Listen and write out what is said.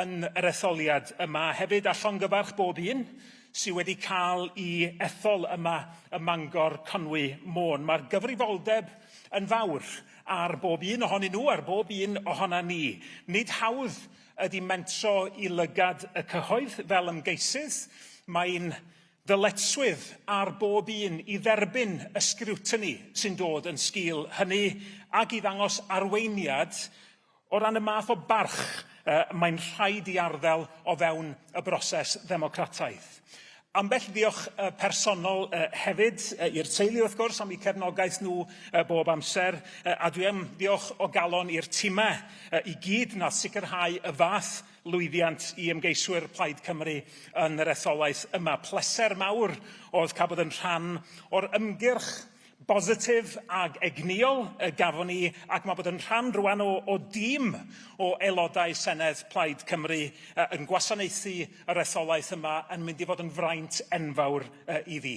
yn yr etholiad yma hefyd, a llongyfarch bob un sydd wedi cael i ethol yma ym Mangor Conwy Môn. Mae'r gyfrifoldeb yn fawr ar bob un ohonyn nhw, ar bob un ohona ni. Nid hawdd ydy mentro i lygad y cyhoedd fel ymgeisydd. Mae'n ddyletswydd ar bob un i dderbyn y sgriwtini sy'n dod yn sgil hynny ac i ddangos arweiniad O ran y math o barch y mae'n rhaid i arddel o fewn y broses ddemocrataidd. Ambell ddiolch y personol y hefyd y i'r teulu wrth gwrs am eu cefnogaeth nhw y bob amser y a dwi am ddiolch o galon i'r timau y i gyd nath sicrhau y fath lwyddiant i ymgeiswyr Plaid Cymru yn yr etholaeth yma. Pleser mawr oedd cael bod yn rhan o'r ymgyrch bositif ac egnïol y gafon ni ac mae bod yn rhan rwan o, o dîm o Aelodau Senedd Plaid Cymru uh, yn gwasanaethu yr etholaeth yma yn mynd i fod yn fraint enfawr uh, i fi.